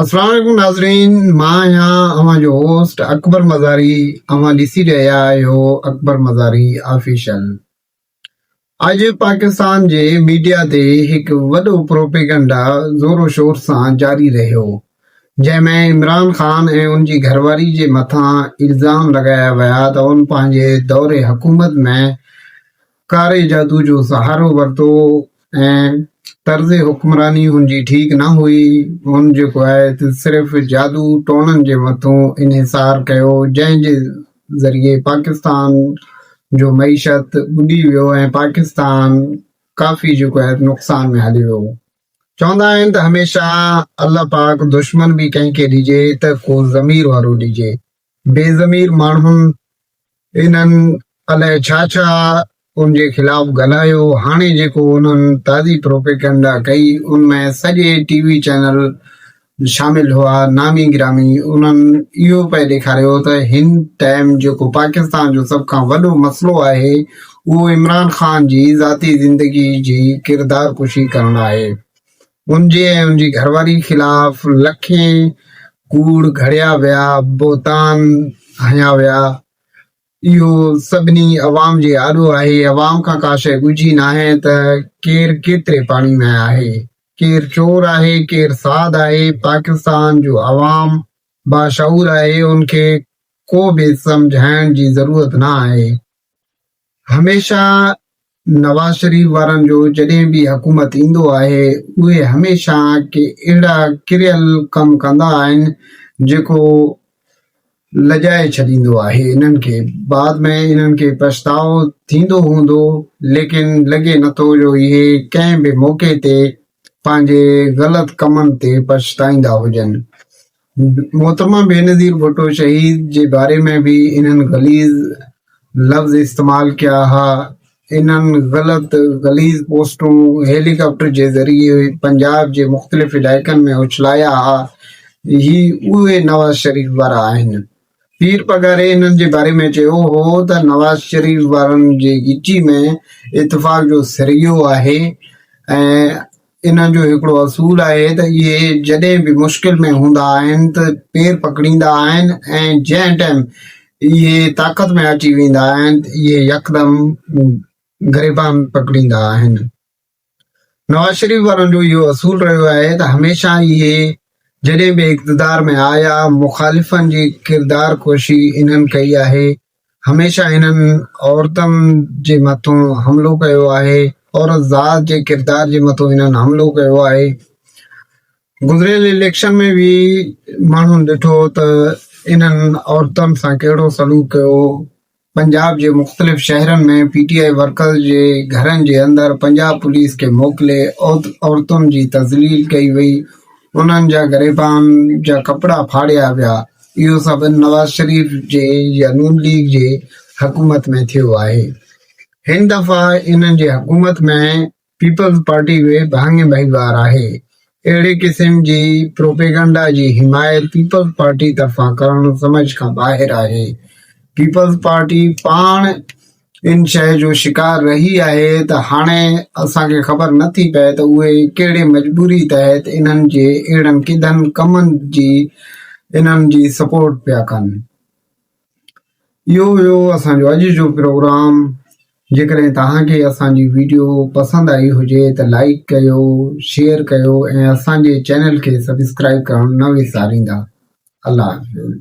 السلام عليڪم ناظرين مان آهيان اوهان جو هوسٽ اڪبر مزاري اوهان ڏسي رهيا آهيو اڪبر مزاري آفيشل اڄ پاڪستان جي ميڊيا تي هڪ وڏو پروپيگنڊا زور و شور سان جاري رهيو جنهن ۾ عمران خان ۽ ان جي گهرواري جي مٿان الزام لڳايا ويا ته ان پنهنجي دور حڪومت ۾ ڪاري جادو جو سهارو ورتو ۽ طرز حڪمراني هن جي ٺيڪ نه هئي، هن جيڪو آهي ته صرف جادو ٽوڻن جي مٿون انحصار ڪيو جنهن جي ذريعي پاڪستان جو معيشت ٻڏي ويو ۽ پاڪستان ڪافي جيڪو آهي ته نقصان ۾ هليو ويو. چوندا آهن ته هميشه الله پاڪ دشمن به ڪنهن کي ڏجي ته ڪو ضمير وارو ڏجي. بي ضمير ماڻهن انهن الائي ڇا ڇا ان جي خلاف ڳالهايو، هاڻي جيڪو انهن تازي پروپيگنڊا ڪئي ان ۾ سڄي ٽي وي چينل شامل هئا، نامي گرامي انهن اهو پئي ڏيکاريو ته هن ٽائيم جيڪو پاڪستان جو سڀ کان وڏو مسئلو آهي اهو عمران خان جي ذاتي زندگي جي ڪردارڪشي ڪرڻ آهي، هن جي ۽ هن جي گهرواري خلاف لکين ڪوڙ گهڙيا ويا، بهتان هنيا ويا. اهو سڀني عوام جي آڏو آهي. عوام کان ڪا شيء ڳجهي ناهي ته ڪير ڪيتري پاڻي ۾ آهي، ڪير چور آهي، ڪير ساڌ آهي. پاڪستان جو عوام باشعور آهي، ان کي ڪو به سمجهائڻ جي ضرورت نه آهي. هميشه نواز شريف وارن جو جڏهن به حڪومت ايندو آهي اهي هميشه ڪي اهڙا ڪريل ڪم ڪندا آهن جيڪو لڄائي ڇڏيندو آهي انهن کي بعد ۾ انهن کي پڇتاء ٿيندو هوندو ليڪن لڳي نٿو جو اهي ڪنهن به موقعي تي پنهنجي غلط ڪمن تي پڇتائيندا هجن محترمه بينظير ڀٽو شهيد جي باري ۾ به انهن غليظ لفظ استعمال ڪيا ها انهن غلط غليظ پوسٽون هيليڪاپٽر جي ذريعي پنجاب جي مختلف علائقن ۾ اڇلايا ها هي اهي نواز شريف وارا آهن پير پگهاري انهن جي باري ۾ چيو هو ته نواز شريف وارن جي ڳچي ۾ اتفاق جو سريو آهي ۽ انهن جو هڪڙو اصول آهي ته اهي جڏهن به مشڪل ۾ هوندا آهن ته پير پڪڙيندا آهن ۽ جنهن ٽائيم اهي طاقت ۾ اچي ويندا آهن ته اهي يڪدم گريبان پڪڙيندا آهن. نواز شريف وارن جو اهو اصول رهيو آهي ته هميشه اهي جڏهن به اقتدار ۾ آيا مخالفن جي ڪردار ڪوشي انهن ڪئي آهي، هميشه انهن عورتن جي مٿون حملو ڪيو آهي، عورت ذات جي ڪردار جي مٿون انهن حملو ڪيو آهي، گذريل اليڪشن ۾ به ماڻهن ڏٺو ته انهن عورتن سان ڪهڙو سلوڪ ڪيو، پنجاب جي مختلف شهرن ۾ پي ٽي آء ورڪرز جي گهرن جي اندر پنجاب پوليس کي موڪلي عورتن جي تذليل ڪئي وئي، انهن جا گريبان جا ڪپڙا ڦاڙيا ويا، اهو سڀ نواز شريف جي يا نون ليگ جي حڪومت ۾ ٿيو آهي. هن دفعا انهن جي حڪومت ۾ پيپلز پارٽي به ڀاڱي ڀائيوار آهي. اهڙي قسم جي پروپيگنڊا جي حمايت پيپلز پارٽي طرفان ڪرڻ سمجهه کان ٻاهر آهي. پيپلز پارٽي پاڻ ان شيء جو شڪار رهي آهي ته هاڻي اسان کي خبر نه ٿي پئي ته اهي ڪهڙي مجبوري تحت انهن جي اهڙن ڪڌن ڪمن جي انهن جي سپورٽ پيا ڪن. اهو هيو اسان جو اڄ جو پروگرام جيڪڏهن توهان کي اسان جي ويڊيو پسند آئي هجي ته لائڪ ڪيو شيئر ڪيو ۽ اسان جي چينل کي سبسڪرائب ڪرڻ نه وساريندا الله حافظ